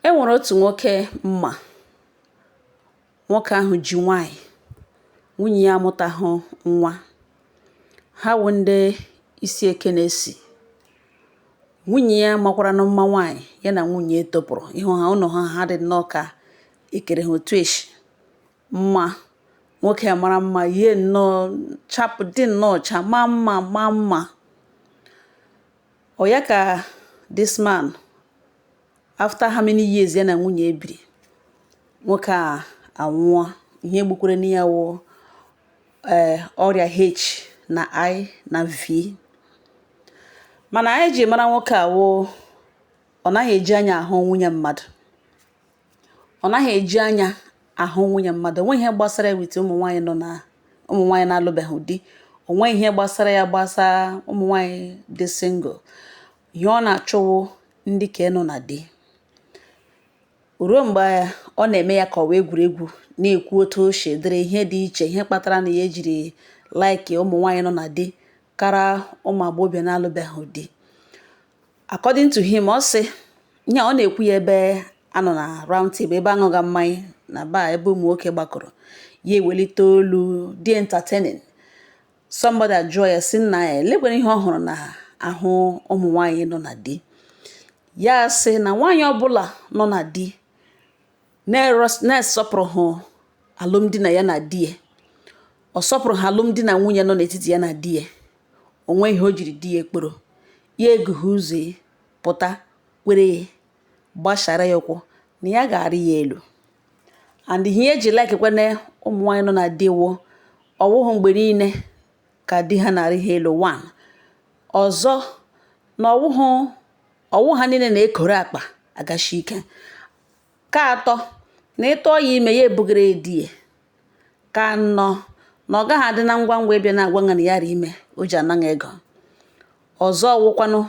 E nwere otu nwoke mma nwoke ahụ ji nwaanyị nwunye ya amụtahụ nwa ha wụ ndị isi eke na-esi nwunye ya makwaranụ mma nwaanyị ya na nwunye topụrụ ịhụ ha ụlọ ha dị nnọọ ka e kere ha otu eshi mma nwoke a mara mma yie nnọọ chapụ dị nnọọ ọcha maa mma maa mma Ọ ya ka this man after how many years ya na nwunye biri nwoke a anwụọ ihe gbukwaranụ ya wụ ee eh, ọrịa H na I na V mana anyị ji mara nwoke a wụ ọ naghị eji anya ahụ nwunye mmadụ ọ naghị eji anya ahụ nwunye mmadụ o nweghị ihe gbasara ya with ụmụ nwaanyị nọ na ụmụ nwaanyị na-alụbeghị di o nweghị ihe gbasara ya gbasa ụmụ nwaanyị dị single ihe ọ na-achọ wụ ndị ke nọ na di ruo mgbe ọ na-eme ya ka ọ wụ egwuregwu na-ekwu otu o si dịrị ihe dị iche ihe kpatara na ya jiri like ụmụ nwaanyị nọ na di kara ụmụ agbọghọbịa na-alụbeghị di according to him ọ sị ihe ọ na-ekwu ya ebe a nọ na round table ebe a ṅụga mmanya na bar ebe ụmụ nwoke gbakọrọ ya ewelite olu dị entertaining somebody ajụọ ya sị nna ya elekwere ihe ọ hụrụ n'ahụ ụmụ nwaanyị nọ na di ya sị na nwaanyị ọbụla nọ na di na-asọpụrụghị alụmdi na ya na di ya ọ sọpụrụghị alụmdi na nwunye nọ n'etiti ya na di ya o nweghị ihe o jiri di ya kpọrọ ya egughe ụzọ ya pụta kwere ya gbasara ya ụkwụ na ya ga-arị ya elu and ihe eji like kwanụ ụmụ nwaanyị nọ na di wụ ọ wụghị mgbe niile ka di ha na-arị ha elu one ọzọ na ọ wụhụ ọ wụ ha niile na-ekoro akpa agashi ike Ka atọ, na ị tụọ ya ime ya ebugara di ya. Ka anọ, na ọ gaghị adị na ngwa ngwa ịbịa na-agwa gị na ya rị ime o ji ana gị ego. Ọzọ wụkwanụ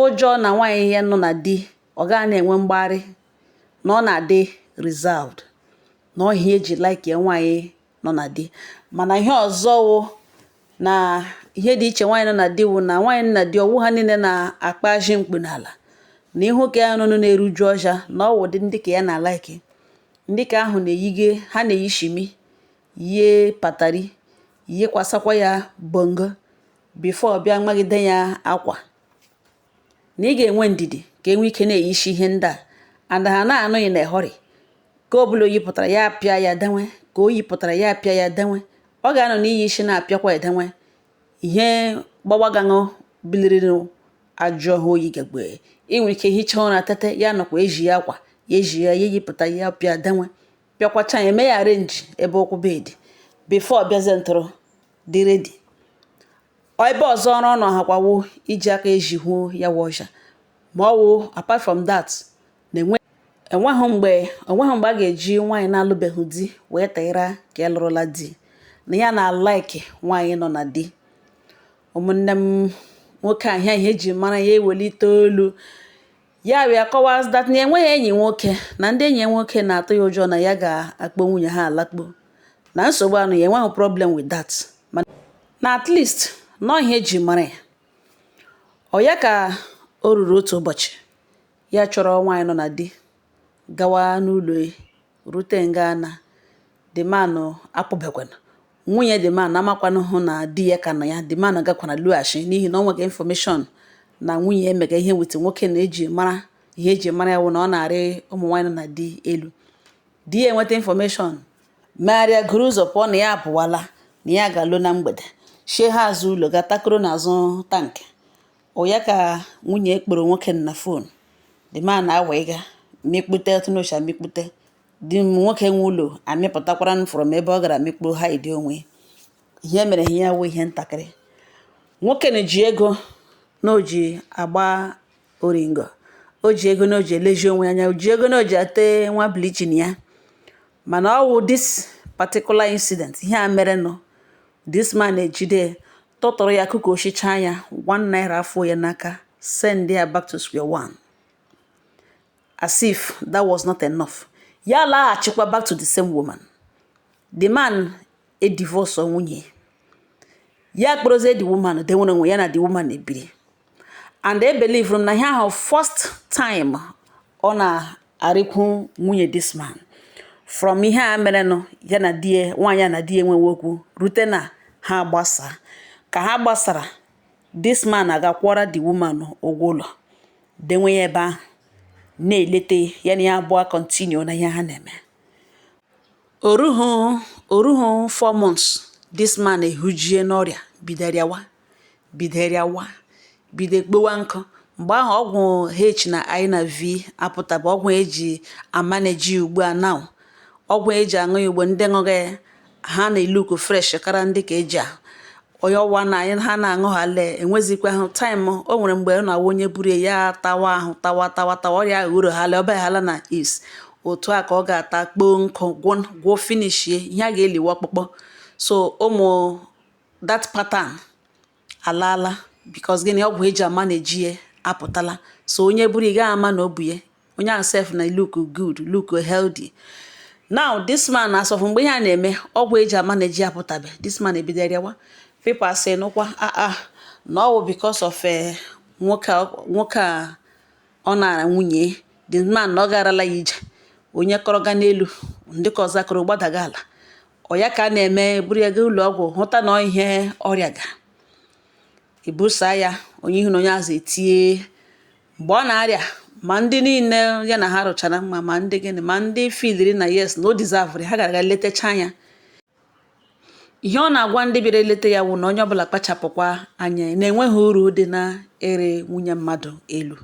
ụjọ na nwaanyị ya nọ na di ọ gaghị na-enwe mgbagharị na ọ na-adị reserved na ọ ihe eji like ya nwaanyị nọ na di mana ihe ọzọ wụ na ihe dị iche nwaanyị nọ na di wụ na nwaanyị nọ na di ọ wụ ha niile na-akpa ajị mkpu n'ala na ihu ka ya nụnụ na-eruju ọhịa na ọ wụ dị ndị ka ya na-alike ndị ka ahụ na-eyige ha na-eyi shimi yie patari yikwasakwa ya bongo before ọ bịa magide ya akwa na ị ga-enwe ndidi ka enwe ike na-eyishi ihe ndị a and ha na-anọghị na hurry nke ọ bụla o yipụtara ya apịa ya denwe nke o yipụtara ya apịa ya denwe ọ ga-anọ na-eyishi na-apịakwa edenwe ihe gbawagaṅụ bilirinụ ajụ ọhụụ oyi gagbe ị nwere ike hichaa ụra tete ya nọkwa eji ya akwa ya eji ya ya eyipụta ya pịa denwe pịakwacha ya mee ya arrange ebe ụkwụ bed before bịazie ntụrụ dị ready ebe ọzọ ọrụ ọ nọ ahakwawo iji aka eji hụo ya wụ ọja ma ọ wụ apart from that na-enwe enweghị mgbe enweghị mgbe a ga-eji nwaanyị na-alụbeghị di wee tịra nke lụrụla di na ya na-alike nwaanyị nọ na di ụmụnne m nwoke ahụ ihe eji mara ya ewelite olu Yaria kọwara that na ya enweghị enyi nwoke na ndị enyi ya nwoke na-atụ ya ụjọ na ya ga-akpọ nwunye ha alakpo na nsogbu anọghị ya enweghị problem with that na at least na ọ ihe eji mara ya ọ ya ka o ruru otu ụbọchị ya chọrọ nwaanyị nọ na di gawa n'ụlọ rute nga na the man apụbekwana. Nwunye the man amakwanụhụ na di ya ka nọ ya, the man gakwara lọghachi n'ihi na o nwere information na nwunye emega ihe with nwoke na eji mara ihe eji mara ya wụ na ọ na-arị ụmụ nwaanyị nọ na di elu. Di ya enweta information megharịa guru ụzọ pụọ na ya apụwala na ya ga-alọ na mgbede. Shie ha azụ ụlọ ga takoro n'azụ tank. Ọ ya ka nwunye kpọrọ nwoke na phone the man awa ịga mekpute ọtụnụcha mekpute di nwoke nwe ụlọ amịpụtakwara from ebe ọ gara mekpuo hide onwe ihe mere ihe ya wụ ihe ntakịrị nwoke na ji ego na o ji agba oringo o ji ego na o ji elezi onwe anya o ji ego na o ji ate nwa bleaching ya mana ọ wụ this particular incident ihe a merenụ this man ejide tụtụrụ ya kụka oshicha ya 1 naira afọ ya n'aka send ya back to square one as if that was not enough ya laghachikwa back to the same woman the man edivorce nwunye ya kpọrọzie the woman denwere onwe ya na the woman ebiri and ebelieveru m na ihe ahụ first time ọ na-arịkwu nwunye this man from ihe a merenụ ya na di ya nwaanyị a na di ya enwee okwu rute na ha gbasaa ka ha gbasara this man agakwụọra the woman ụgwọ ụlọ denwe ya ebe ahụ na-eleta ya ya na ya abụọ continue na ihe ha na-eme o ruhu o ruhu four months this man ehujie n'ọrịa bidoro yawa bido rịawa bido kpọwa nkụ mgbe ahụ ọgwụ h na i na v apụtaba ọgwụ eji amaneji ugbu a now ọgwụ eji aṅụ ya ugbu a ndị ṅụga ya ha na-eluku fresh kara ndị ka eji ahụ onye ọwa na anyị ha na-aṅụ ha lee enwezikwa ahụ taịm o nwere mgbe ọ na-awụ onye buru ya tawa ahụ tawa tawa tawa ọrịa ahụ uru ha lee ọba hala na is otu a ka ọ ga-ata kpọọ nkụ gwụọ finishie ihe a ga-eli wụ ọkpụkpụ so ụmụ that pattern alaala because gịnị ọgwụ eji amaneji ya apụtala so onye buru ị gaghị ama na o bu ya onye ahụ sef na look good look healthy now this man as of mgbe ihe a na-eme ọgwụ eji amaneji ya apụtabe this man ebido rịawa people say nụkwa ah ah na ọ wụ because of eh, nwoke a- nwoke a ọ nara nwunye the man na ọ garala ya ije onye kọrọ ga n'elu ndị ka ọzọ akọrọ gbadaga ala ọ ya ka a na-eme buru ya gaa ụlọ ọgwụ hụta na ihe ọrịa ga ebusa ya onye ihu na onye azụ etie mgbe ọ na-arịa ma ndị niile ya na ha rụchara mma ma ndị gịnị ma ndị filiri na yes na o dizavụrụ ha gara aga letacha ya ihe ọ na-agwa ndị bịara eleta ya wụ na onye ọbụla kpachapụkwa anya na enweghị uru dị n'ịrị nwunye mmadụ elu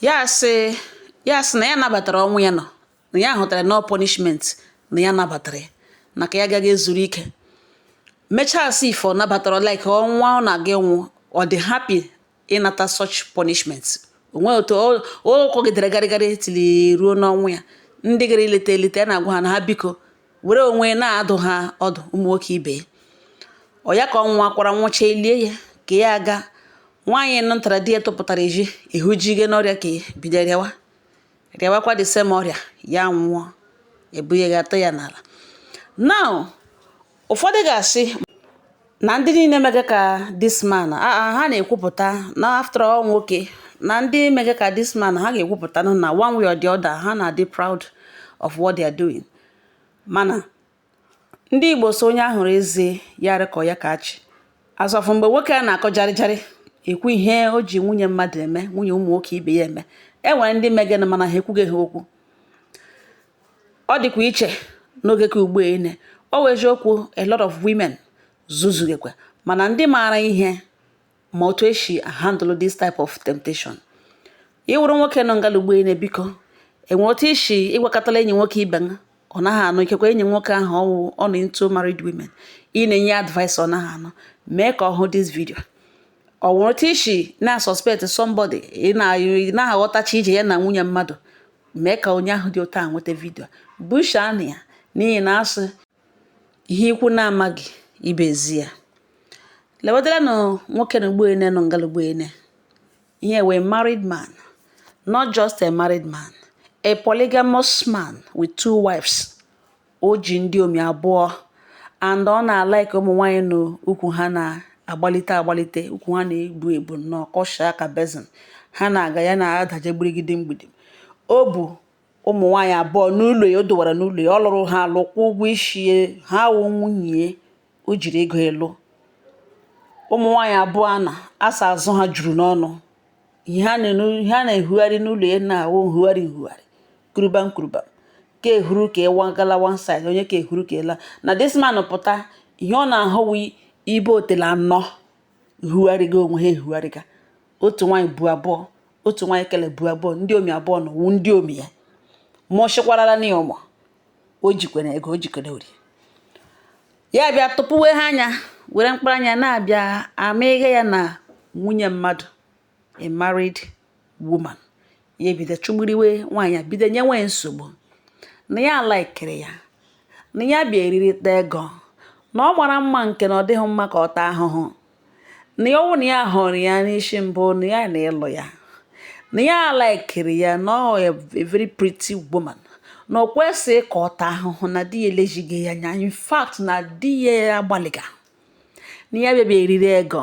ya sị ya sị na ya nabatara ọnwụ ya nọ na ya hụtara na ọ punishment na ya nabatara ya na ka ya agaghị ezuru ike mechaa as if ọ nabatara like ọnwụ ọ na-aga ịnwụ ọ dị happy ịnata such punishment o nwe otu ọ kọgidere garịgarị tili ruo n'ọnwụ ya ndị gara ileta eleta ya na-agwa ha na ha biko were onwe na-adụ ha ọdụ ụmụ nwoke ibe ọ ya ka ọ nwụkwara nwụcha elie ya ka ya aga nwaanyị nụtara di ya tụpụtara eji ihu ji ghe n'ọrịa ka bido rịawa rịawakwa the same ọrịa ya nwụọ ebu ya ga atọ ya n'ala now ụfọdụ ga-asị na ndị niile mege ka this man ha na-ekwupụta na after all nwoke na ndị mege ka this man ha ga-ekwupụta na one way or the other ha na-adị proud of what they are doing mana Ndị Igbo sị onye ahụrụ eze ya dị ka ọ ya ka achị. As of mgbe nwoke a na-akọ jarịjarị ekwu ihe o ji nwunye mmadụ eme nwunye ụmụ nwoke ibe ya eme e nwere ndị megenụ mana ha ekwughị ha okwu ọ dịkwa iche n'oge nke ugbu ene ọ wụ eziokwu a lot of women zuzugekwa mana ndị maara ihe ma otu esi handle this type of temptation ị wụrụ nwoke nọ ngala ugbu ene biko e nwe otu ị si ị gwakatala enyi nwoke ibe ha ọ naghị anụ ikekwe enyi nwoke ahụ ọ wụ ọ nọ into married women ị na-enye advice ọ naghị anụ mee ka ọ hụ this video ọ nwere otu ị si na-suspect somebody ị na-aghọtacha ije ya na nwunye mmadụ mee ka onye ahụ dị otu a nweta vidio busha na ya n'ihi na a sị Ihe ikwu na-amaghị ibe ezi ya. Lewadịla na nwoke na ugbene nọ ngala ugbene. Ihe wee married man, not just a married man, a polygamous man with two wives. O ji ndị omi abụọ and ọ na-alike ụmụ nwaanyị na ukwu ha na-agbalite agbalite, ukwu ha na-ebu ebu nnọọ kọshaa ka basin. Ha na-aga ya na-adaje gbidigidi mgbidi. O bụ ụmụ nwaanyị abụọ n'ụlọ ya o dowara n'ụlọ ya ọ lụrụ ha alụ kwụọ ụgwọ isi ha wụ nwunye o jiri ego lụọ ụmụ nwaanyị abụọ a na asa azụ ha juru n'ọnụ ihe ha na-ehugharị n'ụlọ ya na-awụ nhugharị nhugharị kuruba nkuruba ka ehuru ka ịwa gala one side onye ka ehuru ka ịla na this man pụta ihe ọ na-ahụ wụ ibe otele anọ hugharịga onwe ha ehugharịga otu nwaanyị bu abụọ otu nwaanyị kele bu abụọ ndị omi abụọ na wụ ndị omi ya mụchikwarala na ya ụmụ o jikwere ego o jikwere ori ya bịa tụpụwe ha anya were mkpụrụ anya na-abịa ama ihe ya na nwunye mmadụ a married woman ya ebido chụgburiwe nwaanyị a bido nyewe nsogbu na ya alaikere ya na ya bịa eririta ego na ọ mara mma nke na ọ dịghị mma ka ọ taa ahụhụ na ya wụ na ya hụrụ ya n'isi mbụ na ya na ịlụ ya na ya alaikere ya na ọ a very pretty woman na o kwesịghị ka ọ taa ahụhụ na di ya elezighị ya anya in fact na di ya agbalịga na ya bịa eriri ego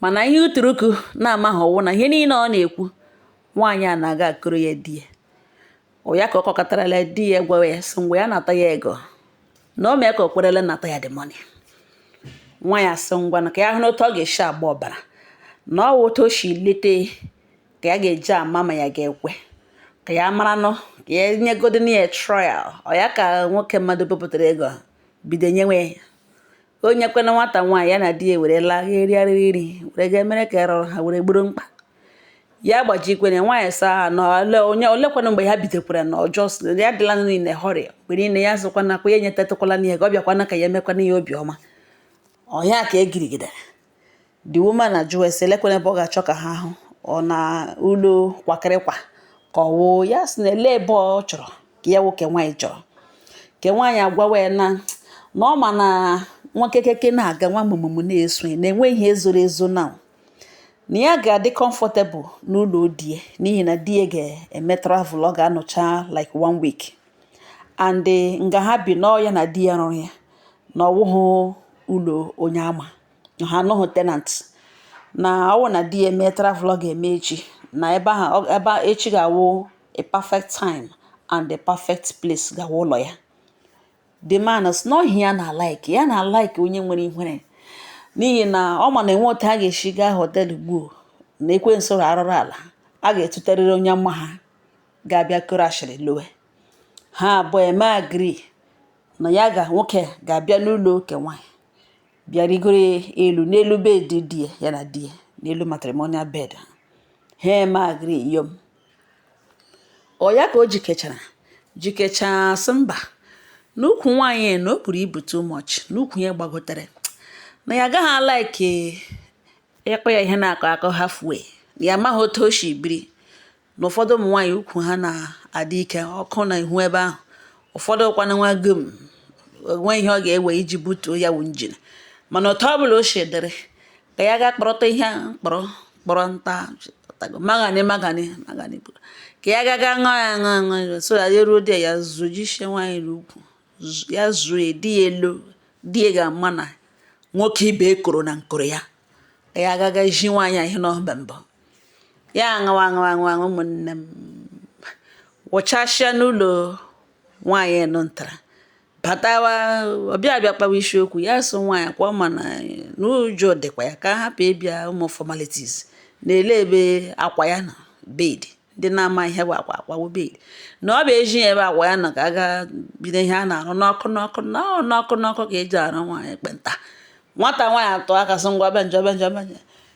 mana ihe uturuku na-amaghị wụ na ihe niile ọ na-ekwu nwaanyị a na-aga akọrọ ya di ya ọ ya ka ọ kọkọtarala di ya gwawa ya sị ngwa ya nata ya ego na o mee ka o kwerele nata ya the money nwaanyị asị ngwa na ka ya hụ n'otu ọ ga-esi agba ọbara na ọ wụ otu o si lete ka ya ga-eji ama ma ya ga-ekwe ka ya mara nọ ka ya nyegodị na ya trial ọ ya ka nwoke mmadụ bepụtara ego bido nyewe ya o nyekwana nwata nwaanyị ya na di ya were laa ga erigharịrị iri were ga mere ka erọrọ ha were gboro mkpa ya gbajikwere nwaanyị saa ha na ole onye olekwana mgbe ha bidokwara na ọjọọ sị ya adịla in a hurry mgbe niile ya zụkwana kwa ya enyetatụkwala na ya ka ọ bịakwana ka ya emekwana ya obiọma ọ ya ka egirigidere the woman ajụọ ese elekwana ebe ọ ga-achọ ka ha hụ ọ n'ụlọ kwakịrịkwa ka ọ wụ ya sị na ele ebe ọ chọrọ ka ya wụ ke nwaanyị chọrọ ke nwaanyị agwawa ya na na ọ ma na nwa kekeke na-aga nwa mụmụmụ na-eso ya na enweghị ihe ezoro ezo na na ya ga-adị comfortable n'ụlọ di ya n'ihi na di ya ga-eme travel ọ ga-anọcha like one week and nga ha bi na ọ ya na di ya rụrụ ya na ọ wụhụ ụlọ onye ama na ha anọghị tenant na ọ wụ na di ya mee travel ọ ga-eme echi na ebe ahụ ebe echi ga-awụ a perfect time and a perfect place ga-awụ ụlọ ya the man sị na ọ ihe ya na like ya na like onye nwere ihere n'ihi na ọ ma na enwe otu ha ga-esi gaa họtel gbuo na ekwensu arụrụ ala ga-eduterịrị onye ma ha ga-abịa kọrọ ashịrị lowe ha abụọ emee agree na ya nke nwoke ga-abịa n'ụlọ nke nwaanyị bịa rigoro elu n'elu bed di ya na di ya n'elu matrimonial bed ha ha emee agree yom ọ ya ka o jikechara jikechaa sị mba n'ukwu nwaanyị na o buru ibu too much n'ukwu ya gbagotere na ya agaghị alaiki ịkpọ ya ihe na-akọ akọ halfway ya amaghị otu o si biri na ụfọdụ ụmụ nwaanyị ukwu ha na-adị ike ọkụ na ihu ebe ahụ ụfọdụ kwana nwa gom onwe ihe ọ ga-ewe iji butuo ya wụ njin mana otu ọ bụla o si dịrị ka ya gaa kpọrọta ihe kpọrọ kpọrọ nta magani magani magani ka ya gaga ṅụọ ya ṅụọ ṅụọ so ya ruo di ya zọjisie nwaanyị n'ukwu ya zuo ya di ya elu di ya ga-ama na nwoke ibe ekoro na nkoro ya ka ya gaga ji nwaanyị ihe n'ọba mbọ ya aṅụwa aṅụwa aṅụwa ụmụnne m wụchasịa n'ụlọ nwaanyị nọ ntara batawa ọ bịa abịa kpawa isiokwu ya sị nwaanyị kwa ma na n'ụjọ dịkwa ya ka a hapụ ịbịa ụmụ formalities na olee ebe akwa ya nọ bed ndị na-amaghị ihe bụ akwa akwa wụ bed na ọ bụ eji ya ebe akwa ya nọ ka a gaa bido ihe a na-arụ n'ọkụ n'ọkụ n'ọkụ n'ọkụ ka e ji arụ nwaanyị ekpenta nwata nwaanyị atụọ aka sị ngwa bịa njọ bịa njọ bịa njọ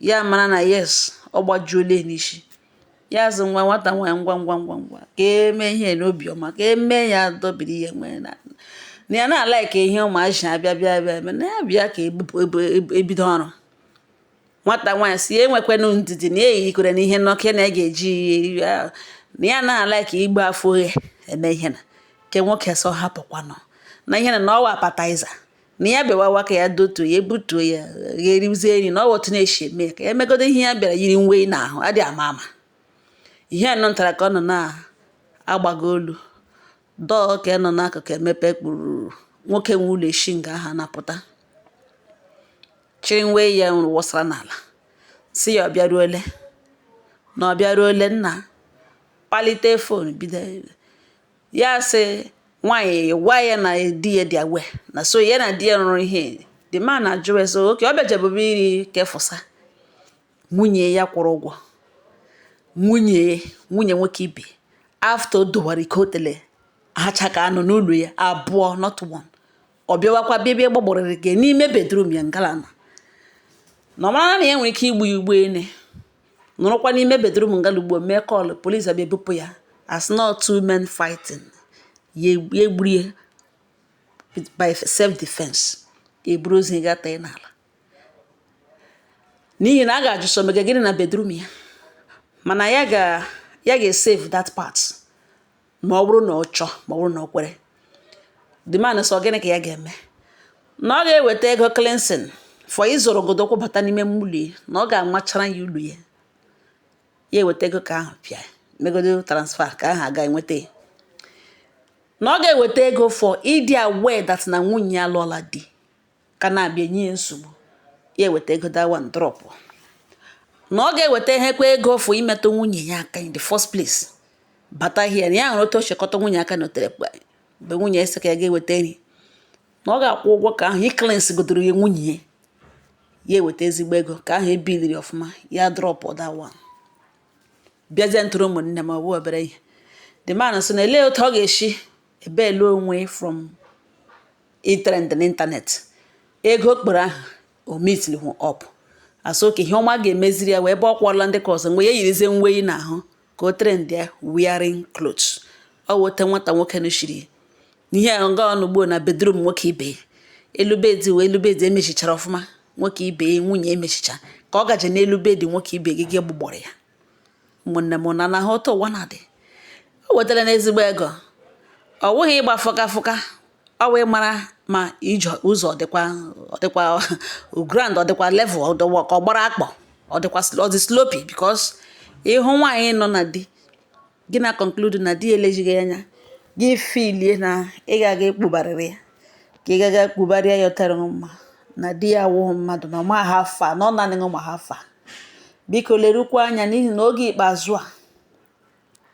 ya mara na yes ọ gbajuole n'isi ya asị nwa nwata nwaanyị ngwa ngwa ngwa ngwa ka e mee ihe n'obiọma ka e mee ya dọbiri ihe nwere na na ya na-alaike ihe ụmụazị abịa bịa bịa eme na ya bịa ka e bido ọrụ nwata nwaanyị sị ya nwekwanụ ndidi na eyikwere na ihe n'ọkụ na ya ga-eji na ya na-alaike ịgba afọ oghe eme ihe na nke nwoke sị hapụkwanụ na ihe na na ọ wụ appetizer na ya bịawawa ka ya dotuo ya ebutuo ya ya erizie nri na ọ wụ otu a na-eshi eme ya ka ya megodo ihe ya bịara yiri nwe n'ahụ adị ama ama ihe anọ ntara ka ọ nọ na-agbago olu door nke nọ n'akụkụ emepe kpuru nwoke nwe ụlọ eshi nga ahụ anapụta chịrị nwe ya nwụrụ wụsara n'ala sị ya ọ bịaruole na ọ bịaruole nna kpalite fon bido ya sị nwaanyị gwa ya na di ya dị aware na so ya na di ya rụrụ ihe the man ajụrụ ya sị okay ọ bịajebụbe iri kefụsa nwunye ya kwụrụ ụgwọ nwunye nwunye nwoke ibe after o dowara ike otele hacha ka anọ n'ụlọ ya abụọ not one ọ bịawakwa bịa bịa gbagborịrị gị n'ime bedroom ya ngalana na ọ mara na ya nwere ike igbu ya ugbo ene nọrọkwa n'ime bedroom ngala ugbo mee call police abịa ebupụ ya as not two men fighting ya egburu ya by self defense eburu ozu ga tee n'ala n'ihi na a ga-ajụ sị ọ mega gịnị na bedroom ya mana ya ga ya ga-esave that part ma ọ bụrụ na ọ chọọ ma ọ bụrụ na ọ kwere the man sị ọ gịnị ka ya ga-eme na ọ ga-eweta ego cleansing for ịzọrọ godo ụkwụ bata n'ime ụlọ ya na ọ ga-amachara ya ụlọ ya ya eweta ego ka ahụ pịa megodo transfer ka ahụ aga enweta ya na ọ ga-eweta ego for ịdị aware that na nwunye ya lụọla di ka na-abịa enye ya nsogbu ya eweta ego that one drop na ọ ga-eweta ihekwa ego for imetụ nwunye ya aka in the first place bata hie na ya hụrụ otu o si kụta nwunye aka n'otele mgbe nwunye ya sị ka ya ga-eweta nri na ọ ga-akwụ ụgwọ ka ahụ icleanse godoro ya nwunye ya ya eweta ezigbo ego ka ahụ ebiliri ọfụma ya drop that one bịazie ntụrụ ụmụnne m ọ bụ obere ihe the man sị na elee otu ọ ga-esi ebail onwe from itrend n'internet ego kpọrọ aha o meetilihụ up a sị okay ihe ọma ga-emeziri ya wụ ebe ọ kwụọla ndị ka ọzọ mgbe ya yirizie nwe yi n'ahụ ka o trend ya wearing clothes ọ wụ otu nwata nwoke nọchiri n'ihe a nga ọ nọ ugbo na bedroom nwoke ibe ya elu bed wụ elu bed emechichara ọfụma nwoke ibe ya nwunye emechicha ka ọ gaje n'elu bed nwoke ibe gị gị gbugbọrọ ya ụmụnne m na na-ahụ otu ụwa na-adị o wetara na ezigbo ego ọ wụghị ịgba fụka fụka ọ wee mara ma ije ụzọ dịkwa ọ dịkwa ground ọ dịkwa level ọ dịkwa ka ọ gbara akpọ ọ dịkwa ọ dị slopy because ị hụ nwaanyị nọ na di gị na conclude na di elejighị ya anya gị feelie na ị ga-aga ekpubarịrị ya ka ị ga-aga ekpubarịa ya ọtara gị mma na di ya awụghị mmadụ na ọ ma how far na ọ nanị gị ma how far biko lerukwa anya n'ihi na oge ikpeazụ a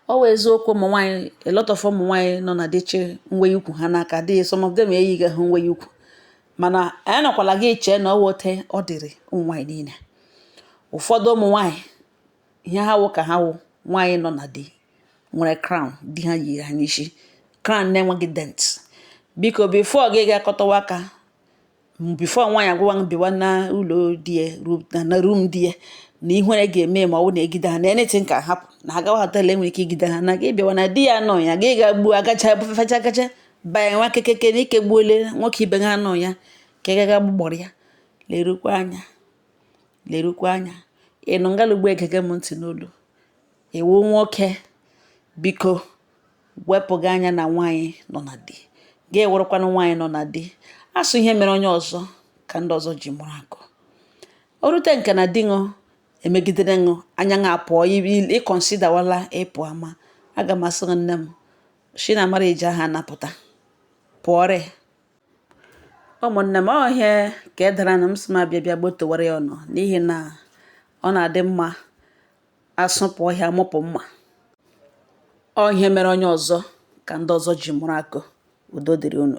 ọ wụ eziokwu ụmụ nwaanyị a lot of ụmụ nwaanyị nọ na di chị nwe ukwu ha n'aka dị some of them eyighị ha nwe ukwu mana anyị nọkwala gị chee na ọ wụ otu ọ dịrị ụmụ nwaanyị niile ụfọdụ ụmụ nwaanyị ihe ha wụ ka ha wụ nwaanyị nọ na di nwere crown di ha yi ha n'isi crown na-enweghị dent biko before gị ga akọtawa aka before nwaanyị agwawa m bịawa na ụlọ di ya na room di ya na ihe na ga-eme ma ọ bụ na egide ha na anything can happen na ha gawa hotel enwere ike igide ha na gị bịawa na di ya nọ ya gị ga gbuo agacha bụfecha agacha banye nwa kekeke na ike gbuole nwoke ibe ha nọ ya ka ị gaga gbugbọrọ ya lerukwa anya lerukwa anya ị nọ n'ala Igbo egege m ntị n'olu ị wụ nwoke biko wepụ gị anya na nwaanyị nọ na di gị ewerekwana nwaanyị nọ na di a sị ihe mere onye ọzọ ka ndị ọzọ ji mụrụ akọ o rute nke na di ṅụ emegidere ṅụ anya ṅa apụọ ị considerwala ịpụ ama aga m asị nne m shi na mara eji aha anapụta pụọrị ụmụnne m ọ ihe ka e dara na m sị m abịa bịa gbotowara ya unu n'ihi na ọ na-adị mma asụpụ ọhịa mụpụ mma ọ ihe mere onye ọzọ ka ndị ọzọ ji mụrụ akọ udo dịrị unu